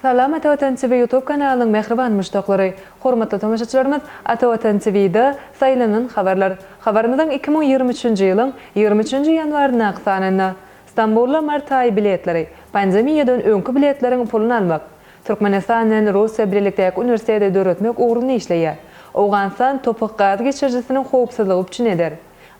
Salam Ata Watan TV YouTube kanalynyň mähriban muşdaklary! Hormatly tomaşaçylarymyz, Ata Watan TV-da Saýlanan habarlar. Habarymyzyň iki müň ýigrimi üçünji ýylyň ýigrimi üçünji ýanwaryndaky sanynda, Stambulda mart aýy biletleri, pandemiýadan öňki biletleriň puluny almak, Türkmenistan bilen Russiýa bilelikdäki uniwersiteti döretmek ugrunda işleýär. Owganystan Topak gaz geçirijisiniň howpsuzlygy üpjün eder.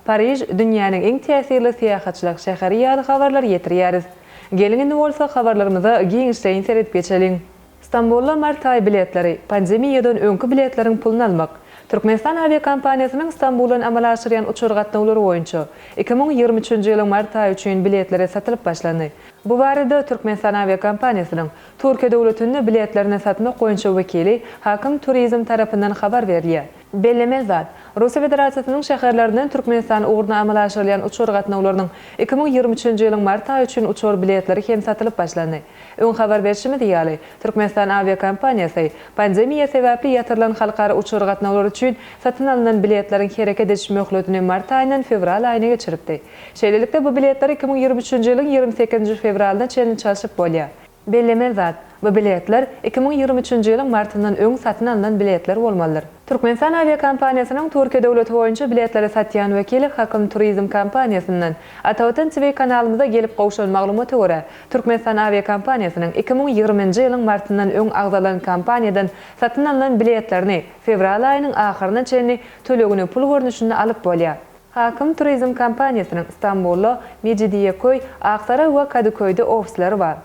Pariž, dünýäniň iň täsirli syýahatçylyk şäheri ýaly habarlary ýetirýäris. Geliň indi bolsa habarlarymyza giňişleýin seredip geçeliň. Stambula mart aýy biletleri, pandemiýadan öňki biletleriň puluny almak. Türkmenistan awiakompaniýasynyň Stambuldan amala aşyrýan uçar gatnawlary boýunça iki müň ýigrimi üçünji ýylyň mart aýy üçin biletleri satylyp başlandy. Bu barada Türkmenistan awiakompaniýasynyň Türkiýe döwletinde biletlerini satmak boýunça wekili Hakim Turizm tarapyndan habar berilýär. Bellemeli zat, Russiýa Federasiýasynyň şäherlerinden Türkmenistan ugruna amala aşyrylýan uçar gatnawlarynyň iki müň ýigrimi üçünji ýylyň mart aýy üçin uçar biletleri hem satylyp başlandy. Öň habar berşimiz ýaly, Türkmenistan awiakompaniýasy pandemiýa sebäpli ýatyrylan halkara uçar gatnawlary üçin satyn alnan biletleriň hereket ediş möhletini mart aýyndan fewral aýyna geçiripdi. Şeýlelikde, bu biletler iki müň ýigrimi üçünji ýylyň ýigrimi sekizinji fewralyna çenli çalşyp bolýar. Bellemeli zat, bu biletler iki müň ýigrimi üçünji ýylyň martyndan öň satyn alnan biletler bolmalydyr. Türkmenistan awiakompaniýasynyň Türkiýe döwleti boýunça biletleri satýan wekili Hakym Turizm kompaniýasyndan Atavatan TV kanalymyza gelip gowşuran maglumata görä, Türkmenistan awiakompaniýasynyň iki müň ýigriminji ýylyň martyndan öň agzalan kompaniýadan satyn alnan biletlerini fewral aýynyň ahyryna çenli tölegini pul görnüşinde alyp bolýar. Hakim Turizm kompaniýasynyň Stambulda, Mejidiýeköý, Aksaray we Kadyköýde ofislary bar.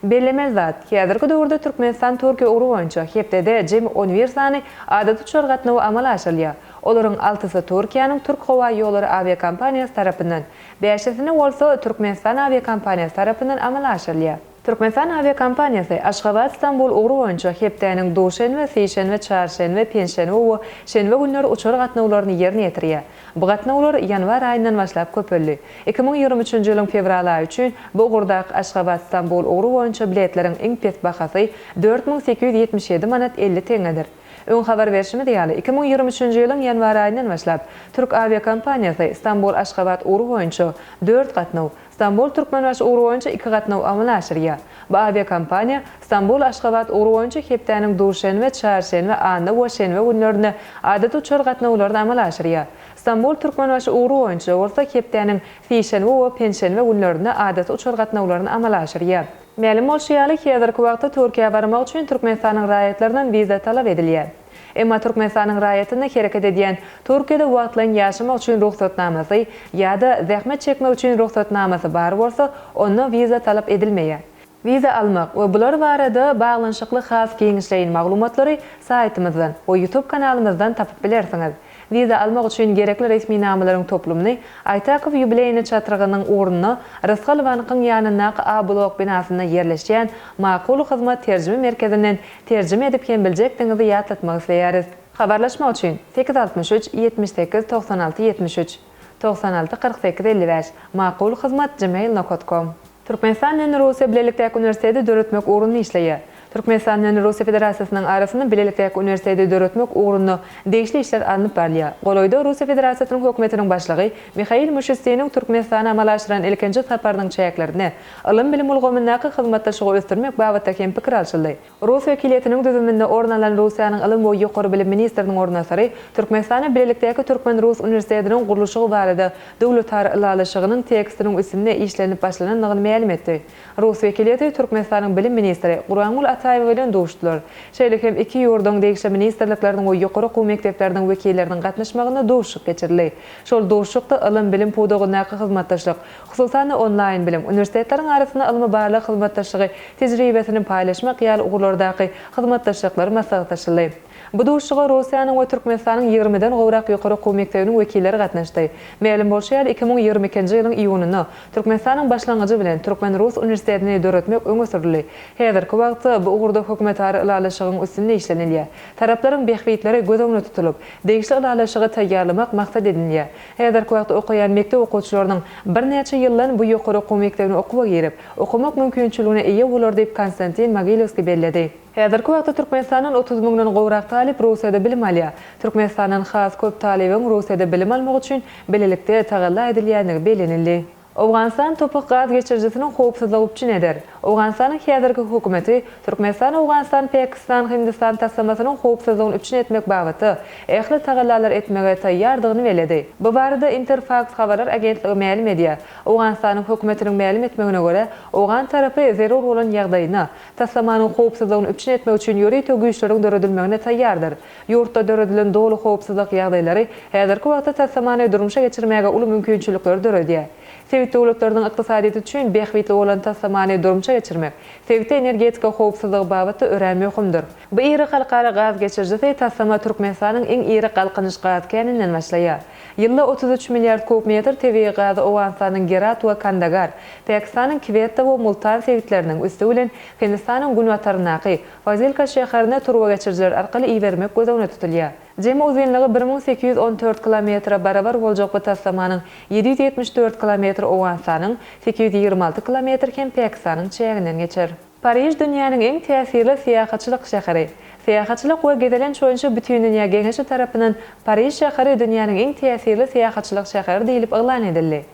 Bellemeli zat, häzirki döwürde Türkmenistan-Türkiýe ugry boýunça hepdede jemi on bir sany adaty uçar gatnawy amala aşyrylýar, olaryň altysy Türkiýäniň Türkhowaýollary awiakompaniýasy tarapyndan, bäşisini bolsa Türkmenistan awiakompaniýasy tarapyndan amala aşyrylýar. Türkmenistan awiakompaniýasy Aşgabat-Stambul ugry boýunça hepdäniň duşenbe, sişenbe, çarşenbe, penşenbe we şenbe günleri uçar gatnawlaryny ýerine ýetirýär. Bu gatnawlar ýanwar aýyndan başlap köpeldi. Iki müň ýigrimi üçünji ýylyň fewral aýy üçin bu ugurdaky Aşgabat-Stambul ugry boýunça biletleriň iň pes bahasy dört müň sekiz ýüz ýetmiş ýedi manat elli tengedir. Öň habar berşimiz ýaly, iki müň ýigrimi üçünji ýylyň ýanwar aýyndan başlap türk awiakompaniýasy Stambul-Aşgabat ugry boýunça dört gatnaw, Stambul Türkmenbaşy ugry boýunça iki gatnaw amala aşyrýar. Bu awiakompaniýa Stambul Aşgabat ugry boýunça hepdäniň duşenbe, çarşenbe, anna we şenbe günlerinde adaty uçar gatnawlaryny amala aşyrýar. Stambul Türkmenbaşy ugry boýunça bolsa hepdäniň sişenbe we penşenbe günlerinde adaty uçar gatnawlaryny amala aşyrýar. Mälim bolşy ýaly, häzirki wagtda Türkiýä barmak üçin Türkmenistanyň raýatlaryndan wiza talap edilýär. Emma Türkmenistanyň raýatynda hereket edýän, Türkiýede wagtlaýyn ýaşamak üçin rugsatnamasy ýa-da zähmet çekmek üçin rugsatnamasy bar bolsa, onda wiza talap edilmeýär. Wiza almak we bular barada baglanyşykly has giňişleýin maglumatlary saýtymyzdan we YouTube kanalymyzdan tapyp bilersiňiz. Wiza almak üçin gerekli resminamalaryň toplumyny Aýtakow ýubileýne çatrygynyň ugrunda Rysgal bankyň ýanyndaky A-blok binasynda ýerleşýän Makul hyzmat terjime merkezinden terjime edip hem biljekdigiňizi ýatlatmak isleýäris. Habarlaşmak üçin, sekiz altmyş üç, ýetmiş sekiz, togsan alty, ýetmiş üç. Togsan alty, kyrk sekiz, elli bäş. Makul hyzmat gmail nokat kom. Türkmenistan bilen Russiýa bilelikdäki uniwersiteti döretmek ugrunda işleýär. Türkmenistan bilen Russiýa Federasiýasynyň arasynda bilelikdäki uniwersiteti döretmek ugrunda degişli işler alnyp barylýar. Golaýda Russiýa Federasiýasynyň Hökümetiniň Başlygy Mihail Mişustiniň Türkmenistana amala aşyran ilkinji saparynyň çäklerinde ylym-bilim ulgamyndaky hyzmatdaşlygy ösdürmek babatda hem pikir alşyldy. Rus wekiliýetiniň düzüminde orun alan Russiýanyň ylym we ýokary bilim ministriniň orunbasary Türkmenistana bilelikdäki türkmen-rus uniwersitetiniň gurluşygy barada döwletara ylalaşygynyň tekstiniň üstünde işlenip başlanandygyny mälim etdi. Rus wekiliýeti Türkmenistanyň bilim ministri Gurangul Ataýewa bilen duşdular. Şeýle hem iki ýurduň degişli ministrlikleriniň we ýokary okuw mekdepleriniň wekilleriniň gatnaşmagynda duşuşyk geçirildi. Şol duşuşykda ylym-bilim pudagyndaky hyzmatdaşlyk, hususan-da, onlaýn bilim, uniwersitetleriň arasynda ylmy-barlag hyzmatdaşlygy tejribesini paýlaşmak ýaly ugurlardaky hyzmatdaşlyklar maslahatlaşyldy. Bu duşuşyga Russiýanyň we Türkmenistanyň ýigrimiden gowrak ýokary okuw mekdebiniň wekilleri gatnaşdy. Mälim bolşy ýaly, iki müň ýigrimi ikinji ýylyň iýunynda Türkmenistanyň başlangyjy bilen Türkmen-rus uniwersitetini döretmek öňe sürüldi. Häzirki wagtda bu ugurda hökümetara ylalaşygyň üstünde işlenilýär. Taraplaryň bähbitleri göz öňünde tutulyp, degişli ylalaşygy taýýarlamak maksat edinilýär. Häzirki wagt okaýan mekdep okuwçylarynyň birnäçe ýyldan bu ýokary okuw mekdebine okuwa girip, okamak mümkinçiligine eýe bolar diýip, Konstantin Mogilewskiý belledi. Häzirki wagtda Türkmenistandan otuz müňden gowrak talyp Russiýada bilim alýar. Türkmenistandan has köp talybyň Russiýada bilim almagy üçin bilelikde tagalla edilýändigi bellenildi. Owganystan Topuk gaz geçirijisiniň howpsuzlygy üpjün eder. Owganystanyň häzirki hökümeti Türkmenistan-Owganystan-Päkistan-Hindistan taslamasynyň howpsuzlygyny üpjün etmek babatda ähli tagallalary etmäge taýýardygyny belledi. Bu barada Interfaks habarlar agentligi mälim edýär. Owganystanyň hökümetiniň mälim etmegine görä, owgan tarapy zerur bolan ýagdaýyna, taslamanyň howpsuzlygyny üpjün etmek üçin ýörite güýçleriň döredilmegine taýýardyr. Ýurtda döredilen doly howpsuzlyk ýagdaýlary häzirki wagtda taslamany durmuşa geçirmäge uly mümkinçilikleri döredýär. Sebit döwletleriniň ykdysadyýeti üçin bähbitli bolan taslamany durmuşa geçirmek sebitde energetika howpsuzlygy babatda örän möhümdir. Bu iri halkara gaz geçirijisi taslama Türkmenistanyň iň iri Galkynyş gaz käninden başlaýar. Ýylda otuz üç milliard kub metr tebigy gazy Owganystanyň Gerat we Kandagar, Pakistanyň Kwetta we Multan sebitleriniň, üsti bilen Hindistanyň günbataryndaky, Fazilka şäherine turbageçirijiler arkaly ibermek göz öňünde tutulýar. Jemi uzynlygy bir müň sekiz ýüz on dört kilometre barabar boljak bu taslamanyň ýedi ýüz ýetmiş dört kilometri Owganystanyň, sekiz ýüz ýigrimi alty kilometri hem Pakistanyň çäginden geçer. Pariž dünýäniň iň täsirli syýahatçylyk şäheri. Syýahatçylyk we gezelenç boýunça Bütindünýä geňeşi tarapyndan Pariž şäheri dünýäniň iň täsirli syýahatçylyk şäheri diýlip yglan edildi.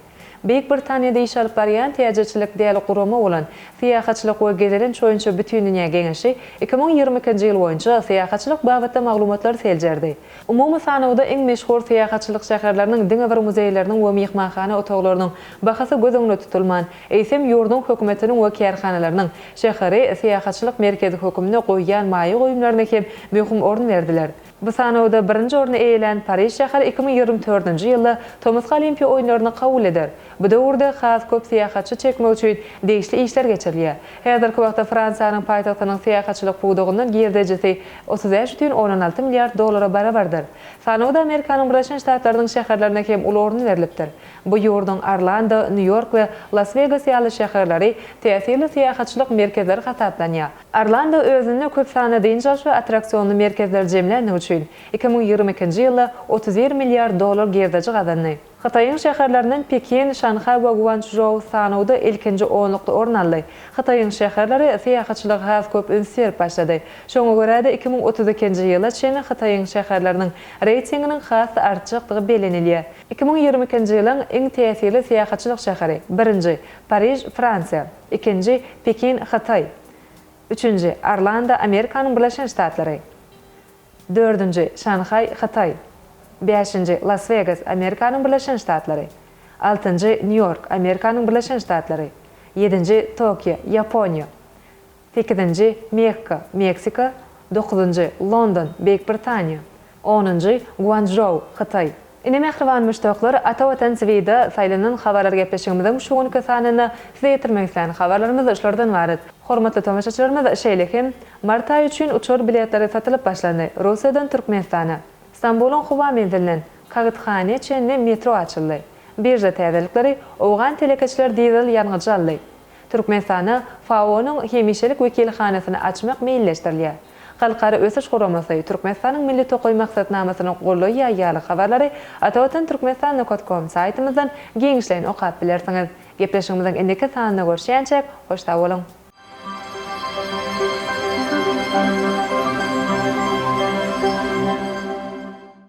Beýik Britaniýada iş alyp barýan täjirçilik däl gurama bolan Syýahatçylyk we gezelenç boýunça bütindünýä geňeşi iki müň ýigrimi ikinji ýyl boýunça syýahatçylyk babatda maglumatlary seljerdi. Umumy sanawda iň meşhur syýahatçylyk şäherleriniň diňe bir muzeýleriniň we myhmanhana otaglarynyň bahasy göz öňünde tutulman, eýsem ýurduň hökümetiniň we kärhanalarynyň şäheri syýahatçylyk merkezi hökümnde goýýan maýa goýumlaryna hem möhüm orun berdiler. Bu sanawda birinji orny eýelän Pariž şäheri iki müň ýigrimi dördünji ýylda tomusky Olimpiýa oýunlaryny kabul eder. Bu döwürde has köp syýahatçy çekmek üçin degişli işler geçirilýär. Häzirki wagtda Fransiýanyň paýtagtynyň syýahatçylyk pudagyndan girdejisi otuz bäş butün ondan alty milliard dollara barabardyr. Sanawda Amerikanyň Birleşen Ştatlarynyň şäherlerine hem uly orun berlipdir. Bu ýurduň Orlando, Nýu-Ýork we Las-Wegas ýaly şäherleri täsirli syýahatçylyk merkezleri hasaplanýar. Orlando özünde köp sanly dynç alyş we attraksionly merkezleri jemländigi üçin, iki müň ýigrimi ikinji ýylda otuz bir milliard dollar girdeji gazandy. Hytaýyň şäherlerinden Pekin, Şanhaý we Guançžou sanawda ilkinji onlukda orun aldy. Hytaýyň şäherleri syýahatçylyga has köp üns berip başlady. Şoňa görä-de, iki müň otuz ikinji ýyla çenli Hytaýyň şäherleriniň reýtinginiň has-da artjakdygy bellenilýär. Iki müň ýigrimi ikinji ýylyň iň täsirli syýahatçylyk şäheri, birinji, Pariž, Fransiýa. Ikinji, Pekin, Hytaý. Üçünji, Orlando, Amerikanyň Birleşen Ştatlary. Dördünji, Şanhaý, Hytaý. Bäşinji, Las-Wegas, Amerikanyň Birleşen Ştatlary. Altynjy, Nýu-Ýork, Amerikanyň Birleşen Ştatlary. Ýedinji, Tokio, Ýaponiýa. Sekizinji, Mekka, Meksika. Dokuzynjy, London, Beýik Britaniýa. Onunjy, Guançžou, Hytaý. Ine mähriban muşdaklar, Ata Watan TV-da saýlanan habarlar gepleşigimiziň şu günki sanynda size ýetirmek islän habarlarymyz şulardan ybarat. Hormatly tomaşaçylarymyz, şeýle hem, mart aýy üçin uçar biletleri satylyp başlandy, Russiýadan Türkmenistana, Stambulyň howa menzilinden Kagythane çenli metro açyldy, birža täzelikleri, owgan telekeçiler dizel ýangyjy aldy, Türkmenistanda FAO-nyň hemişelik wekilhanasyny açmak meýilleşdirilýär. Halkara Ösüş Guramasy Türkmenistanyň Milli tokaý maksatnamasyny goldaýýar ýaly habarlary atawatantürkmenistan.com saýtymyzdan giňişleýin okap bilersiňiz. Gepleşigimiziň indiki sanynda görşýänçäk, hoş sag boluň!